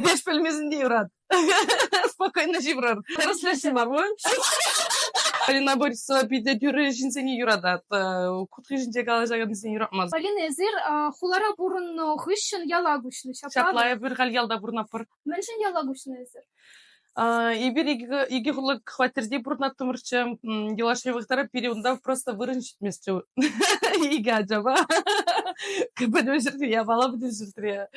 Эпеш пӗлмесен те юрат. Спокойно ҫывӑрар. Тӗрӗслесем abi. Полина Борисова питӗ тӳрӗ ҫынсене юратать. Кутки ҫинче калаҫакансене юратмасть. Полина, эсир хулара пурӑннӑ хыҫҫӑн яла куҫнӑ. Ҫапла, эпир халь ялта пурӑнатпӑр. Мӗншӗн яла куҫнӑ эсир? Эпир икӗ хуллӑ хваттерте пурӑнаттӑмӑрччӗ. Юлашки вӑхӑтра пире унта просто вырӑн Местрю икӗ ачапа пӗтӗм ҫӗрте япала пӗтӗм ҫӗртре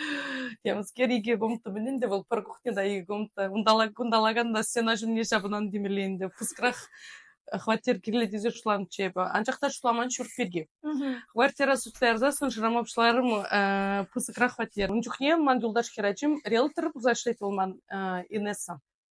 ямскер икӗ комната мӗн ӗнтӗ вӑл пӗр кухня та икӗ комната унтала кунталакан та стена ҫумне ҫапӑнан темелле ӗнтӗ пыскрах хваттер кирлӗ тесе шутламчӗ эпӗ анчах та шутламан ҫурт пирки квартира суттарсассӑн шырама пуҫларӑм пысӑкрах хваттер ун чухне ман юлташ хӗрачим риэлтор пулса ӗҫлет вӑл ман инесса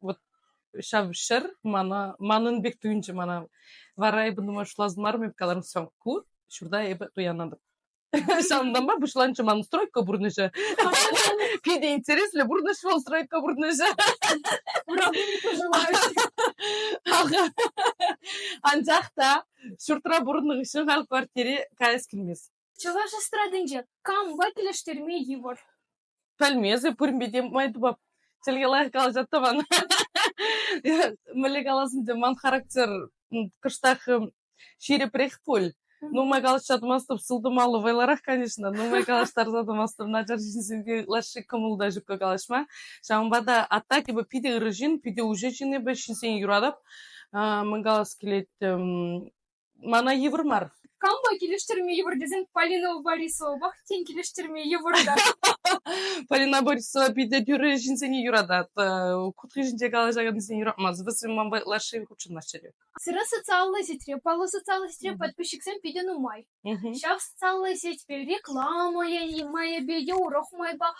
вот ҫав ҫӗр мана манӑн пек туйӑнчӗ мана вара эпӗ думаю шутлас мар эп каларӑм все ку ҫурта эпӗ туянатӑп ҫавӑнтанпа пуҫланчӗ ман стройка пурнӑҫӗ питӗ интереслӗ пурнӑҫ вӑл стройка пурнӑҫӗ анчах та ҫуртра пурӑннӑ хыҫҫӑн халь квартире каяс килмест Чӑваш эстрадинче кампа килӗштерме йывӑр? Пӗлмесӗр пуринпе те май тупап. Чӗлхе лайӑх калаҫа тӑван. Мӗнле каласам те, ман характер кӑштах ҫирӗпрех пуль. Нумай калаҫса тӑмастӑп, сылтӑмаллӑ вӑйлӑрах, конечно. Нумай калаҫтарса тӑмастӑп, начар ҫынсенпе лаҫҫи кӑмӑл та ҫукка калаҫма. Ҫавӑнпа та а так эпӗ питӗ ырӑ ҫын, питӗ уҫӑ ҫын эпӗ, ҫынсене юратӑп. Мӗн калас килет, Мана йывӑр мар. Кампа килӗштерме йывӑр тесен Полина Борисовапах тен килӗштерме йывӑр та. Полина Борисова питӗ тӳрӗ ҫынсене юратать. Кутки ҫинче калаҫакансене юратмасть. Вӗсем ман ытлашши хутшӑнаҫҫӗ. Сире социаллӑ сетьре, паллӑ социаллӑ сетьре подписчиксем питӗ нумай. Ҫав социаллӑ сетьпе реклама майӗпе те урӑх майпа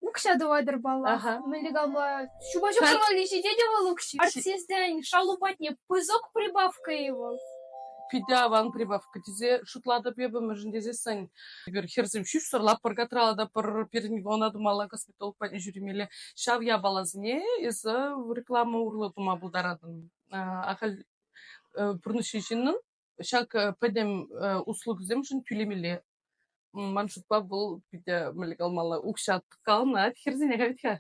Укҫа тӑватӑр паллах. Ага. Мӗнле калма? Ҫупа ҫуксӑр валли ҫитет вӑл укҫи. Артистсен шалу патне пысӑк прибавка и вӑл. Питӗ аван прибавка тесе шутлатӑп эпӗ, мӗншӗн тесессӗн эпир хӗрсем ҫӳҫсӗр лаппӑрка тралата пӗр пирӗн вона тумалла косметолог патне ҫӳремелле. Ҫав япаласене эсӗ реклама урлӑ тума пултаратӑн. А, ахаль э, пурнӑҫҫи ҫыннӑн ҫак пӗтӗм услугӑсемшӗн тӳлемелле. Ман шутпа вӑл питӗ мӗле калмалла укҫа калнать хӗрсене хать-ха.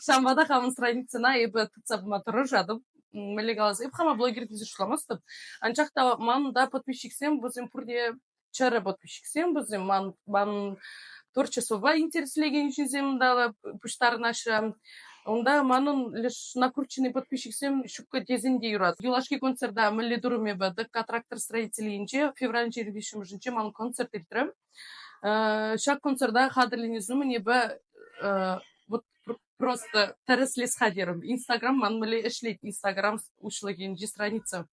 Ҫавӑнпа та хамӑн страницӑна эпӗ тытса пыма тӑрӑшатӑп мӗнле калас эп хама блогер тесе шутламастӑп анчах та ман та подписчиксем вӗсем пурте чӗрӗ подписчиксем вӗсем ман ман творчествӑпа интереслекен ҫынсем та пуҫтарӑнаҫҫӗ. Унта манӑн леш накрученный подписчиксем ҫуккӑ тесен те юрат. Юлашки концерта мӗнле турӑм эпӗ тӑкка трактор строителӗнче февраль 25-нче ман концерт иртрӗм. Ҫак концерта хатӗрленес умӗн эпӗ вот просто тӗрӗслес хатӗрӗм. Инстаграм ман мӗнле ӗҫлет Инстаграм уҫлӑхӗнчи страница.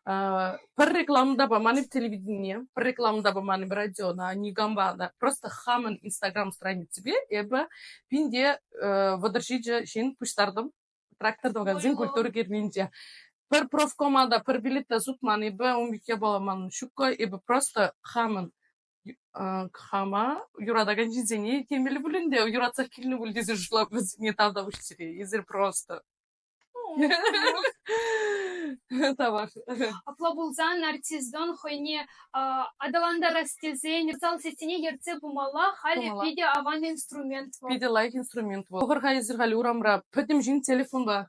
пӗр реклама та паман-и телевидение, пӗр реклама та паман-и радиона, никампа та. Просто хамӑн Инстаграм страниципе эпӗ пинте вӑтӑрҫичӗ ҫын пуҫтартӑм трактор магазин культура кернинче. Пӗр профкома та, пӗр билет та сутман, эпӗ ун пекке пуламан. Ҫуккӑ, эпӗ просто хамӑн хама юратакан ҫынсене темелле пулин те юратса килнӗ пуль тесе шутлап вӗсене тавтапуҫсири эсир просто тавах апла пулсан артиздон хӑйне аталантарас тесен усал сессине ертсе пымалла халӗ питӗ аван инструмент вӑл питӗ лайӑх инструмент вӑл хӑвӑр-ха эсир халӗ урамра пӗтӗм ҫын телефонпа